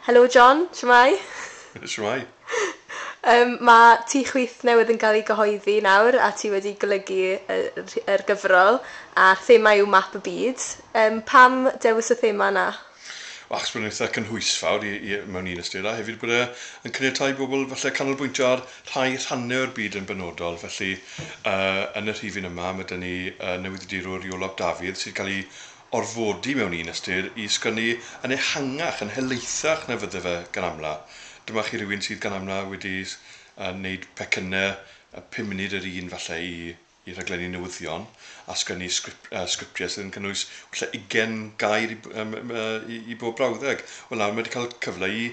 Helo John, shwmae? Shwmae. Yym, mae tŷ chwith newydd yn cael ei gyhoeddi nawr a ti wedi golygu y rh- yr gyfrol a'r thema yw map y byd. Yym, pam dewis y thema yna? Wel, achos bod e'n eitha' cynhwysfawr i i mewn un ystyr, a hefyd bod e yn caniatáu i bobl falle canolbwyntio ar rhai rhannau o'r byd yn benodol. Felly yy yn y rhifyn yma ma' 'da ni yy newyddiadurwr Iolo ap Dafydd sy'n cael ei orfodi mewn un ystyr i sgynnu yn ehangach, yn helaethach na fydde fe gan amla'. Dyma chi rywun sydd gan amla' wedi wneud pecynne pum munud yr un falle i i rhaglenni newyddion a sgynnu sgrip- sgriptiau sydd yn cynnwys falle ugain gair i i i bob brawddeg. Wel nawr mae 'di cael cyfle i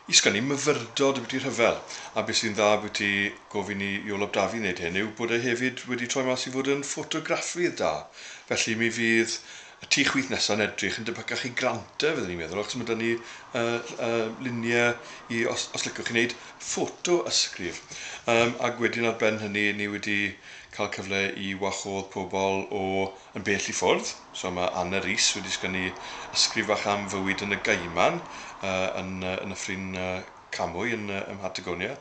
I sgynnu myfyrdod ambiti rhyfel, a be sy'n dda ambiti gofyn i Iolo Brafi wneud hyn yw bod e hefyd wedi troi mas i fod yn ffotograffydd da, felly mi fydd y tu chwith nesa'n edrych yn debycach i Granta fydden i'n meddwl, achos ma' 'da ni yy yy lunie i os os licwch chi wneud ffoto ysgrif. Yym ag wedyn ar ben hynny ni wedi cael cyfle i wahodd pobl o Yn bell i ffwrdd, so mae Anna Rees wedi sgynnu ysgrif fach am fywyd yn y Gaiman yn y Nyffryn Camwy yn Mhatagonia.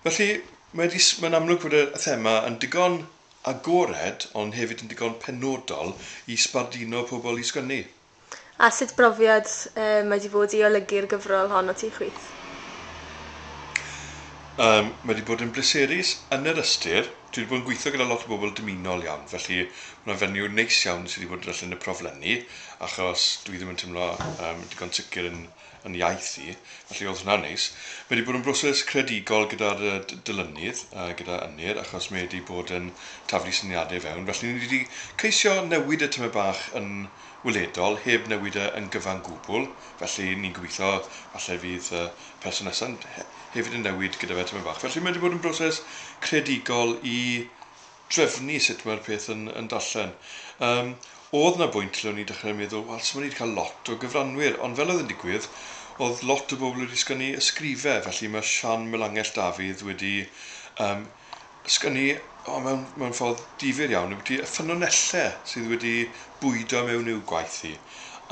Felly, mae'n amlwg bod y thema yn digon agored ond hefyd yn digon penodol i sbarduno pobl i sgynnu. A sut brofiad mae 'di bod i olygu'r gyfrol hon ati chwith? Yym, mae 'di bod yn bleserus yn yr ystyr, dwi 'di bod yn gweithio gyda lot o bobl dymunol iawn, felly ma' 'na fenyw neis iawn sy' 'di bod yn darllen y proflenni, achos dwi ddim yn timlo yym digon sicr yn yn iaith i, felly oedd hwnna'n neis. Mae wedi bod yn broses creadigol gyda'r dylunydd, gyda Ynyr, achos mae wedi bod yn taflu syniadau i fewn, felly ni wedi ceisio newid e tymed bach yn weledol, heb newid e yn gyfan gwbl, felly ni'n gobeithio falle fydd y person nesaf hefyd yn newid gyda fe tymed bach. Felly mae wedi bod yn broses creadigol i drefnu sut mae'r peth yn, yn darllen. Um, oedd na bwynt lle o'n i'n dechrau meddwl, wel, so mae ni wedi cael lot o gyfranwyr, ond fel oedd yn digwydd, oedd lot o bobl wedi sgynnu ysgrifau, felly mae Sian Melangell Dafydd wedi um, sgynnu oh, mewn, mewn ffordd difyr iawn, wedi y ffynonellau sydd wedi bwydo mewn i'w gwaith hi.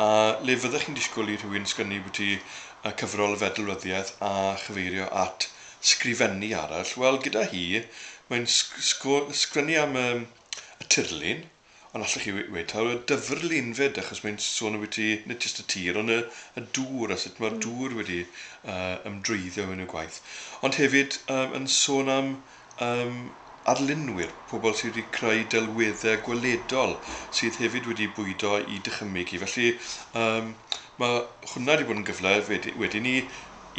A le fyddech chi'n disgwyl i rhywun sgynnu bwyty y cyfrol y fedlwyddiaeth a chyfeirio at sgrifennu arall, wel, gyda hi, mae'n sgwennu am y tirlun, ond allwch chi ddweud taw y dyfrlun 'fyd, achos mae'n sôn ambiti nid jyst y tir, ond y dŵr, a sut mae'r dŵr wedi ymdrwyddio mewn i'w gwaith. Ond hefyd yn sôn am arlunwyr, pobl sydd wedi creu delweddau gweledol, sydd hefyd wedi bwydo i dychymyg hi. Felly, mae hwnna wedi bod yn gyfle wedyn i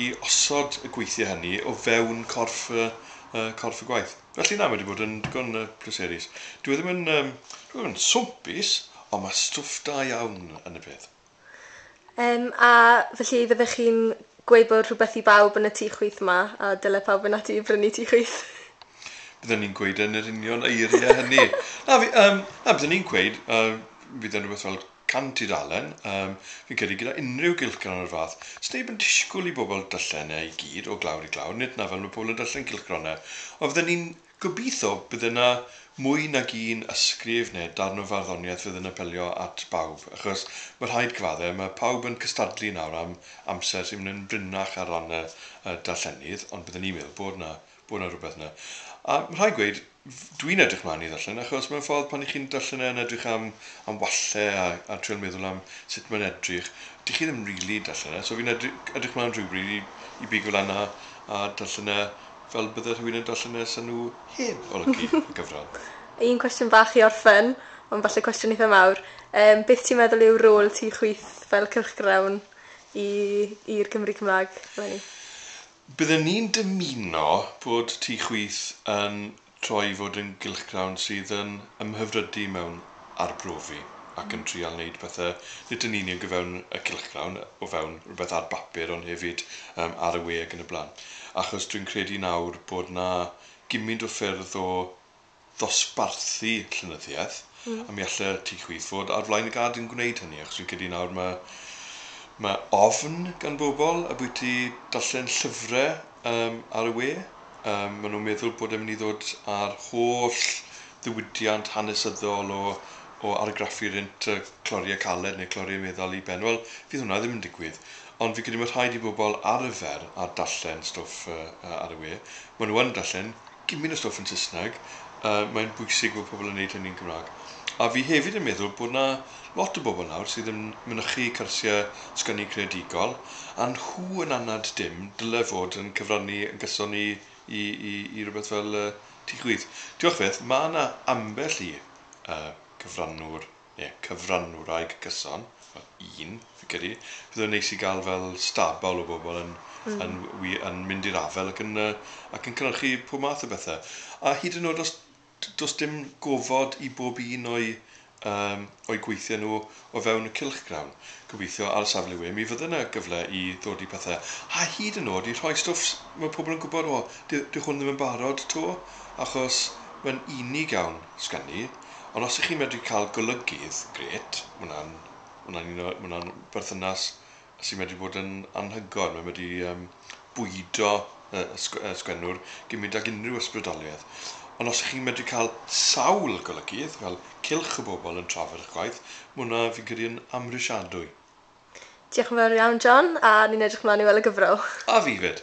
i osod y gweithiau hynny o fewn corff y corff y gwaith. Felly na, mae wedi bod yn digon pleserus. Dyw e ddim yn, um, dyw e ddim yn swmpus, ond mae stwff da iawn yn y peth. Um, a felly fyddech chi'n gweud bod rhywbeth i bawb yn y tu chwyth yma, a dyle pawb yn ati i brynu tu chwyth? Byddwn ni'n gweud yn yr union eiriau hynny. na, fi, um, na, byddwn ni'n gweud, uh, bydd yn rhywbeth fel Can tudalen, yym, fi'n credu gyda unrhyw gylchgrawn o'r fath, sneb yn disgwl i bobl darllen e i gyd, o glawr i glawr, nid 'na fel ma' pobl yn darllen cylchgronau, ond fydden ni'n gobeitho bydde 'na mwy nag un ysgrif neu darn o farddoniaeth fydd yn apelio at bawb, achos ma' rhaid cyfadde, ma' pawb yn cystadlu nawr am amser sy'n mynd yn brinnach ar ran y darllenydd, ond bydden ni'n meddwl bod 'na bod 'na rhywbeth 'na. A ma' rhai' gweud, dwi'n edrych mlaen i ddarllen, achos mewn ffordd pan 'y chi'n darllen e yn edrych am am walle a a trial meddwl am sut mae'n edrych, 'dych chi ddim rili darllen e, so fi'n edry- edrych mlaen rhywbryd i i bigo lan a a darllen e fel bydde rhywun yn darllen e 'sa nhw heb olygu y gyfrol. Un cwestiwn bach i orffen, ond falle cwestiwn eitha mawr, yym beth ti'n meddwl yw rôl ti chwith fel cylchgrawn i i'r Cymry Cymra'g eleni? Byddwn ni'n dymuno bod Tŷ Chwith yn troi i fod yn gylchgrawn sydd yn ymhyfrydu mewn arbrofi ac yn trial wneud pethe nid yn union o fewn y cylchgrawn, o fewn rhywbeth ar bapur ond hefyd yym ar y we ac yn y blaen. Achos dwi'n credu nawr bod 'na gymint o ffyrdd o ddosbarthu llenyddiaeth, a mi alle ti chwith fod ar flaen y gad yn gwneud hynny, achos fi'n credu nawr mae mae ofn gan bobl ambwyty darllen llyfre yym ar y we, yym ma' nhw'n meddwl bod e'n mynd i ddod a'r holl ddiwydiant hanesyddol o o argraffu rent yy Clorie Caled neu Clorie Meddal i ben, wel fydd hwnna ddim yn digwydd. Ond fi'n credu mae rhaid i bobl arfer â darllen stwff ar y we. Maen nhw yn darllen gymaint o stwff yn Saesneg, mae'n bwysig bod pobl yn wneud hynny'n Gymraeg. A fi hefyd yn meddwl bod 'na lot o bobl nawr sydd yn mynychu cyrsiau sgwennu creadigol, a nhw yn anad dim, dyle fod yn cyfrannu yn gyson i i i i rywbeth fel Tŷ Chwith. Diolch byth, mae 'na ambell i cyfrannwr ie, cyfrannwraig gyson, wel, un, fi'n credu, bydde fe'n neis i gael fel stabal o bobl yn yn wi- yn mynd i'r afael ac yn yy ac yn cynhyrchu pob math o bethe. A hyd yn o'd os d- do's dim gofod i bob un o'u yym o'u gweithie nw o fewn y cylchgrawn, gobeithio ar safle we, mi fydde 'na gyfle i ddod i pethe. A hyd yn o'd i rhoi stwff s- ma' pobl yn gwbod, 'O, dy- dyw hwn ddim yn barod 'to, achos mae'n unig iawn, sgan i. Ond os 'y chi'n medru cael golygydd, grêt, ma' wnna'n, ma' wnna'n un o, ma' wnna'n berthynas sy'n medru bod yn anhygoel, mae'n medru yym bwydo y y sg- y sgwennwr gymint ag unrhyw ysbrydoliaeth. Ond os 'y chi'n medru cael sawl golygydd, fel cylch o bobl yn trafod 'ych gwaith, ma' hwnna, fi'n credu, yn amhrisiadwy. Diolch yn fawr iawn, John, a ni'n edrych mlaen i weld y gyfrol. A fi 'fyd!